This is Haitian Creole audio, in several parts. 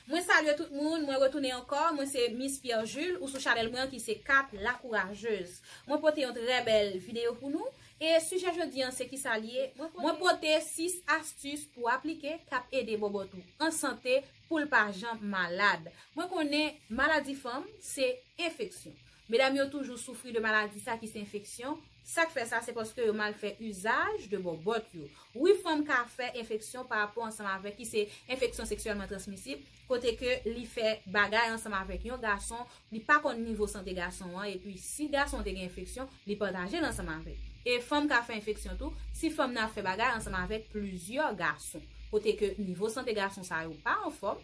Mwen salye tout moun, mwen retounen ankò, mwen se Miss Pierre Jules ou sou chanèl mwen an ki se Kat la kourajeuz. Mwen pote yon trè bèl videyo pou nou, e sijè jodi an se kisa li ye, mwen pote 6 astus pou aplike kap ede bòbòt ou an sante poul pa janm malad. Mwen konnen maladi fanm se enfeksyon. Medam yo toujou soufri de maladi sa ki se enfeksyon, Sak fè sa se paske yo mal fè usage de bòbòt yo. Wi fanm ka fè enfeksyon pa rapò ansanm avèk li se enfeksyon seksyèlman transmisib kote ke li fè bagay ansanm avèk yon gason li pa konn nivo sante gason an epi si gason te gen enfeksyon li patajel ansanm avèk e fanm ka fè enfeksyon tou si fanm nan ap fè bagay ansanm avèk plizyè gason kote ke nivo sante gason sa yo pa anfòm.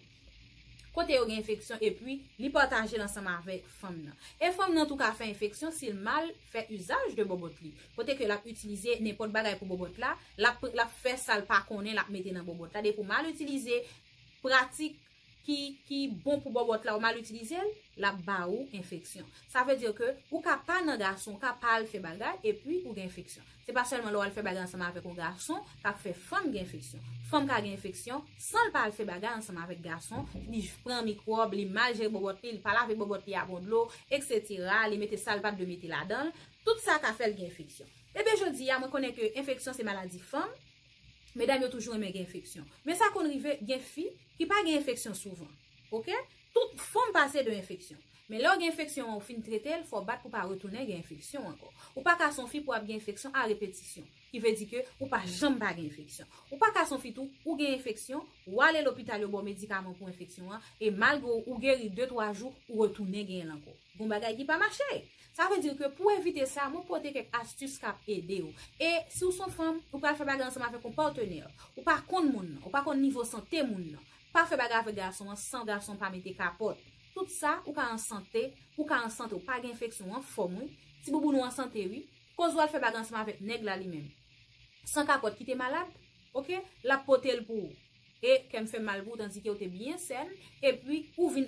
kote yo gen enfeksyon epi li pataje l ansanm avèk fanm nan. E fanm nan tou ka fè enfeksyon si l mal fè izaj de bòbòt li, kote ke l ap itilize nenpòt bagay pou bòbòt la, l ap fè sa l pa konnen l ap mete nan bòbòt la, depi w mal itilize pratik ki bon pou bòbòt la ou mal itilize l, l ap ba ou enfeksyon. Sa vle di ke ou ka pa nan gason, ou ka pa al fè bagay epi ou gen enfeksyon. Se pa sèlman lè w al fè bagay ansanm avèk yon gason k ap fè fanm gen enfeksyon. Fanm ka gen enfeksyon san l pa al fè bagay ansanm avèk gason, li pran mikwòb, li mal jere bòbòt li, li pa lave bòbòt li a bon dlo, eksetera, li mete sa l pa t dwe mete ladan l, tout sa ka fè l gen enfeksyon. Ebyen jodi a mwen konnen ke enfeksyon se maladi fanm, medam yo toujou renmen gen enfeksyon. Men sa konn rive gen fi ki pa gen enfeksyon souvan. Ok. Tout fòm pase de enfeksyon. Men lè w gen enfeksyon an ou fin trete l, fò w bat pou w pa retounen gen enfeksyon ankò. Ou pa ka se yon fi pou ap gen enfeksyon a repetisyon. Ki vle di ke ou pa janm pa gen enfeksyon. Ou pa ka se yon fi tou, ou gen enfeksyon, ou ale lopital yo ba w medikaman pou enfeksyon an, e malgre ou geri de twa jou, ou retounen genyen l ankò. Gon bagay ki pa mache! Sa vle di ke pou w evite sa, mwen pote kèk astis k ap ede w. E si w se yon fanm, ou pral fè bagay ansanm avèk yon patenè. Ou pa konn moun nan, ou pa konn nivo sante moun nan. Pa fè bagay avèk gason an san gason pa mete kapòt. Tout sa, ou ka an sante, ou ka an sante ou pa gen enfeksyon ou an fòm wi. Ti bouboun ou an sante wi. Koz wal fè bagay ansanm avèk nèg la li menm. San kapòt kite malad ok lap potel pou ou. E kèm fèm mal pou ou tandike ou te byen sèn epi ou vin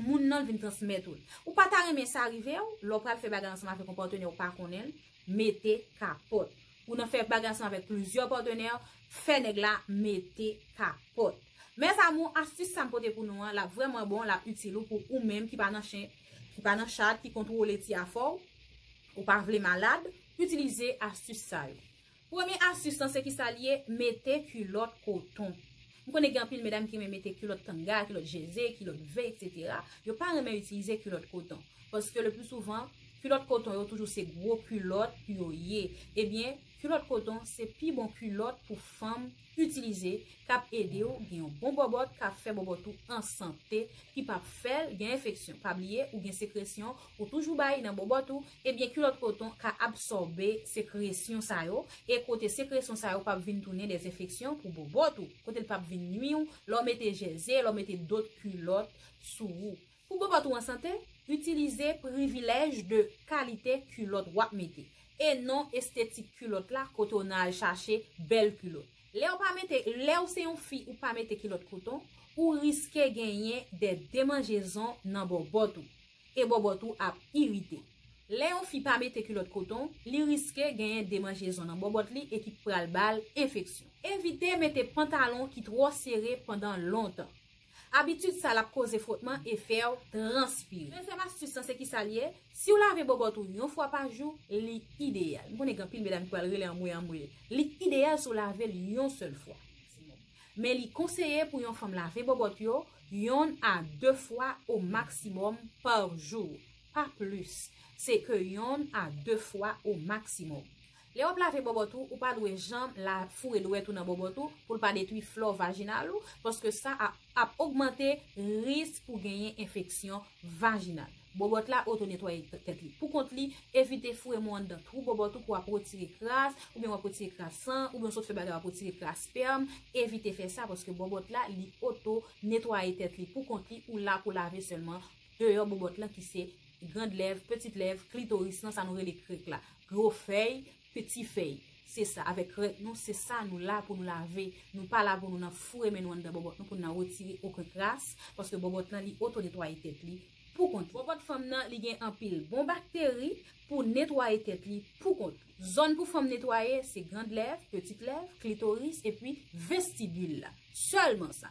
moun nan vin transmèt ou l. Ou pa ta renmen sa rive ou lè ou pral fè bagay ansanm avèk yon patenè ou pa konnenl. mete kapòt. Ou nan fè bagy ansanm avèk plizyè patenè, fè nèg la mete kapòt. Mes amour, astis sa m pote pou nou an, l ap vrèman bon, l ap itil ou pou ou menm ki pa nan chen, ki pa nan chat, ki kontwole ti afè w, ou pa vle malad, itilize astis sa yo. Premye astis lan se kisa l ye, mete kilòt koton. M konnen gen anpil medam ki renmen mete kilòt tanga, kilòt jeze, kilòt ve etc. Yo pa renmen itilize kilòt koton. Paske le pli souvan, kilòt koton yo toujou se gwo kilòt pou yo ye. Ebyen, kilòt koton se pi bon kilòt pou fanm itilize k ap ede w gen yon bon bòbòt k ap fè bòbòt ou an sante ki p ap fè l gen enfeksyon. Pa bliye ou gen sekresyon ou toujou bay nan bòbòt ou Ebyen kilòt koton ka absòbe sekresyon sa yo e kote sekresyon sa yo pap vin tounen des enfeksyon pou bobot ou, kote l pap vin nwi w lè w mete jèze, lè w mete dot kilòt sou ou. Pou bobot ou an sante, itilize privilèj de kalite kilòt w ap mete e non estetik kilòt la kote w nan al chache bèl kilot. Lè w pa mete, lè w se yon fi ou pa mete kilòt koton, ou riske genyen des demanjezon nan bobot ou. E bòbòt ou ap irite. Lè yon fi pa mete kilòt koton, li riske genyen demanjezon nan bòbòt li e ki pral ba l enfeksyon. Evite mete pantalon ki twò sere pandan lontan. Abitid sa l ap koze fwotman e fè w transpire. Dezyèm astis lan se kisa l ye? Si w lave bòbòt ou yon fwa pa jou, li ideyal. M konnen gen anpil medam ki pral rele anmwe anmwe. Li ideyal si w lave l yon sèl fwa. Men li konseye pou yon fanm lave bobot yo yonn a 2 fwa o maksimom par jou, pa plis, se ke yonn a 2 fwa o maksimom. Lè wap lave bobot ou, ou pa dwe janm la foure dwèt ou nan bobot ou pou l pa detwi flò vajinal ou, paske sa a ap ogmante risk pou genyen enfeksyon vajinal. Bobot la oto netwaye tèt li pou kont li, evite foure mou anndan twou bobot ou pou wap retire kras, oubyen wap retire kras san, oubyen w sot fè bagay wap retire kras spèm, evite fè sa paske bobot la li oto netwaye tèt li pou kont li ou la pou lave sèlman deyò bobot lan ki se grand lèv, petit lèv, klitoris lan sa nou rele krek la, gro fèy, Peti fèy. Se sa, avèk krèk nou, se sa nou la pou nou lave. Nou pa la pou nou nan foure men nou anndan bòbòt nou pou nou nan retire oken kras, paske bòbòt lan li otonetwaye tèt li pou kont li. Bòbòt fanm nan li gen anpil bon bakteri pou netwaye tèt li pou kont li. Zòn pou fanm netwaye se grand lèv, petit lèv, klitoris epi vestibul la. Sèlman sa.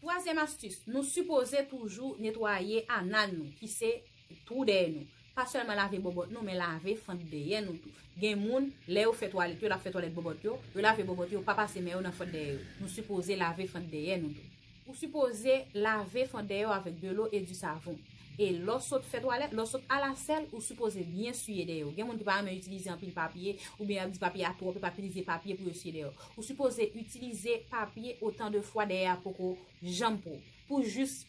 Twazyèm astis, nou sipoze toujou netwaye anal nou ki se twou dèyè nou. Pa sèlman lave bòbòt nou men lave fant dèyè nou tou. Gen moun, lè yo fè twalèt yo, lap fè twalèt bòbòt yo, yo lave bòbòt yo, yo pa pase men yo nan fant dèyè yo. Nou sipoze lave fant dèyè nou tou. Ou sipoze lave fant dèyè w avèk dlo e di savon. E lè w sot fè twalèt, lè w sot al asèl, ou sipoze byen siye dèyè w. Gen moun ki pa renmen itilize anpil papye, oubyen y ap di papye a twòp, yo pa itilize papye pou yo siye dèyè w. Ou sipoze itilize papye otan de fwa dèyè a poko janm pwòp. Pou jis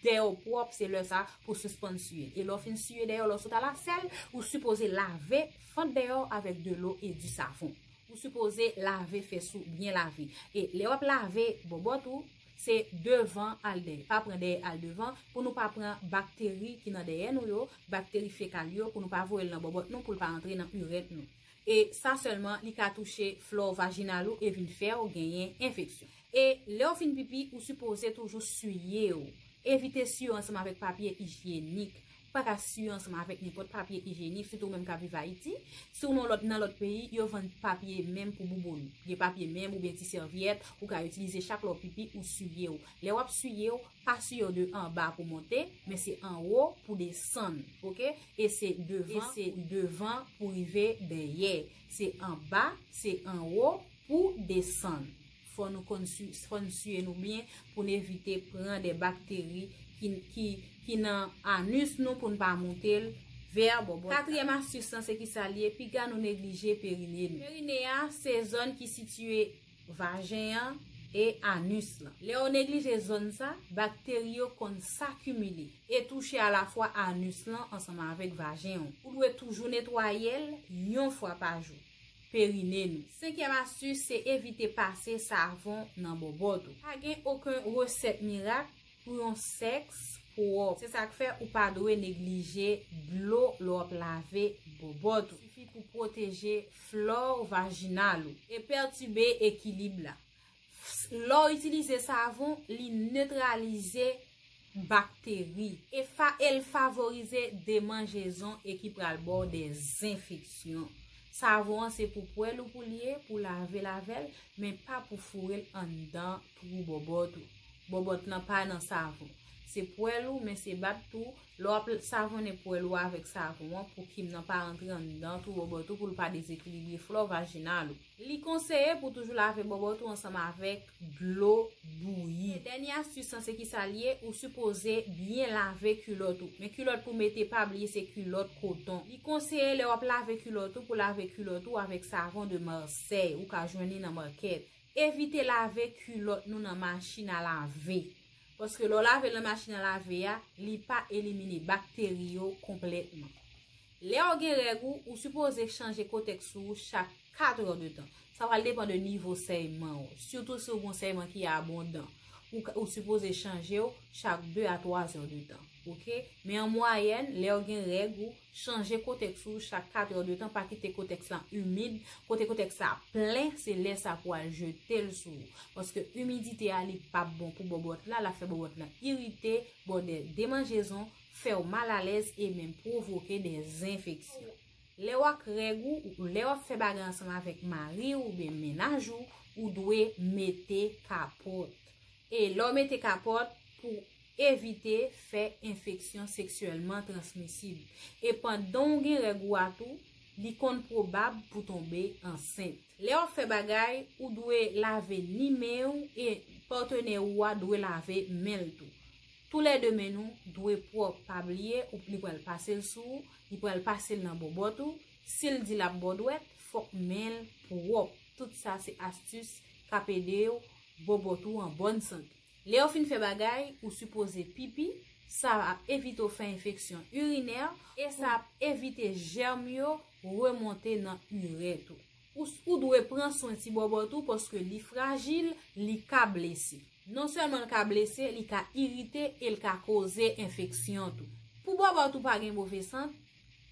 dèyè w pwòp, se lè sa a pou w sispann siye. E lè w fin siye dèyè w, lè w sot al asèl, ou sipoze lave fant dèyè w avèk dlo e di savon. Ou sipoze lave fès ou byen lave. E lè w ap lave bòbòt ou. Se devan al dèyè. Pa pran dèyè al devan pou nou pa pran bakteri ki nan dèyè nou yo, bakteri fekal yo pou nou pa voye l nan bòbòt nou pou l pa antre nan urèt nou. E sa sèlman li ka touche flò vajinal ou e vin fè w genyen enfeksyon. E lè w fin pipi ou sipoze toujou siye w. Evite siye w ansanm avèk papye ijyenik. pa ka siye ansanm avèk nenpòt papye ijyenik, sitou ou menm k ap viv Ayiti. Si w nan lòt peyi, yo vann papye menm pou bouboun. Gen papye menm oubyen ti sèvyèt ou ka itilize chak lè w pipi ou siye w. Lè w ap siye w, pa siye w de anba pou monte, men se anwo pou desann. Ok. E se devan pou rive dèyè. Se anba, se anwo pou desann. Fò nou konn fò n siye nou byen pou n evite pran de bakteri ki nan anus nou pou n pa moute l vè bòbòt la. Katriyèm astis lan se kisa l ye piga nou neglije perine nou. Perine a se zòn ki sitiye vajen an e anus lan. Lè ou neglije zòn sa, bakteri yo konn sakimile e touche alafwa anus lan ansanm avèk vajen ou. Ou dwe toujou netwaye l yon fwa pa jou. perine nou. Senkyèm astis se evite pase savon nan bòbòt ou. Pa gen oken resèt mirak pou yon sèks pwòp. Se sak fè ou pa dwe neglije dlo lè w ap lave bòbòt ou. Sifi pou pwoteje flore vaginal ou e pètibe ekilib la. Fsl lè w itilize savon li netralize bakteri. Efa el favorize demanjezon e ki pral baw de zenfeksyon. Savon an se pou pwèl ou pou l ye, pou lavel avèl, men pa pou foure l anndan twou bòbòt ou. Bòbòt lan pa nan savon. Se pwèl ou men se bat tou, lè wap savonnen pwèl ou avèk savon an pou kim nan pa rantre anndan twou bòbòt ou pou l pa dezekilibre flò vajinal ou. Li konseye pou toujou lave bòbòt ou ansanm avèk dlo bouyi. Dènye astis lan se kisa li ye, ou sipoze byen lave kilòt ou. Men kilòt pou mete pa bliye se kilòt koton. Li konseye lè wap lave kilòt ou pou lave kilòt ou avèk savon de Marseille, ou ka jwenn li nan makèt. Evite lave kilòt nou nan machin a lave. Paske lè w lave l nan machin a lave a, li pa elimine bakteri yo konplètman. Lèw gen règ ou, ou sipoze chanje kotèks sou ou chak 4 heures de tan. Sa pral depan de nivo sèyman ou. Sitou si ou gon sèyman ki abondan. Ou sipoze chanjew chak 2 a 3 heures de tan. Ok. Men an mwayèn, lèw gen règ ou, chanje kotèks ou chak 4 heures de tan, pa kite kotèks lan imid. Kote kotèks la plen, se lè sa pou al jetel sou ou. Paske imidite a li pap bon pou bòbòt la, lap fè bòbòt lan irite, bòdè demanjezon. fè w mal alèz e menm pwovoke de zenfeksyon. Lè w ak règ ou ou lè w ap fè bagay ansanm avèk mari w oubyen mennaj ou, ou dwe mete kapòt. E lè w mete kapòt, pou evite fè enfeksyon seksyèlman transmisib. E pandan w gen règ ou a tou, li konn pwobab pou tonbe ansent. Lè w ap fè bagay, ou dwe lave ni men w e patenè ou a dwe lave men l tou. Tou lè 2 men nou dwe pwòp pa bliye ou li pral pase l sou ou, li pral pase l nan bòbòt ou, si l di l ap bo dwèt fòk men l pwòp, tout sa se astis k ap ede w bòbòt ou an bòn sante. Lè yo fin fè bagay ou sipoze pipi, sa ap evite w fè enfeksyon irinè e sa ap evite jèm yo remonte nan irèt ou. Ou dwe pran swen ti bòbòt ou paske li frajil, li ka blese. Non sèlman l ka blese, li ka irite e l ka koze enfeksyon tou. Pou bòbòt ou pa gen move sant,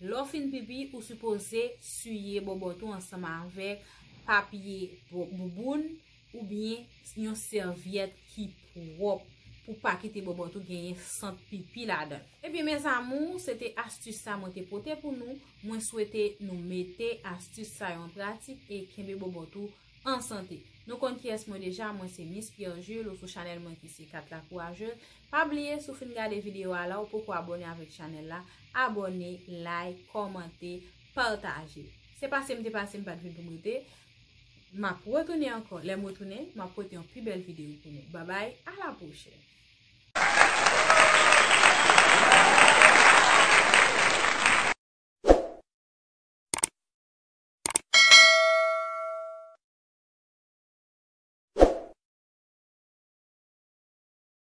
lè w fin pipi ou sipoze siye bòbòt ou ansanm avèk papye bouboun Ou byen yon sèvyèt ki pwòp pou pa kite bòbòt ou genyen sant pipi ladan. Ebyen mes amours se te astus sa mwen te pote pou nou, mwen swete nou mete astus sa yo an pratik e kenbe bòbòt ou an sante. Nou konn kiyès mwen deja, mwen se Miss Pierre Jules ou sou chanèl mwen ki se 4 la courageuse. Pa bliye si w fin gade video a la ou poko abone avèk chanèl la, abone, like, kòmante, pataje. Se pase m te pase m pat vin pou m rete. Map retounen ankò lèm retounen map pote yon pi bèl video pou nou babay ala pwochèn.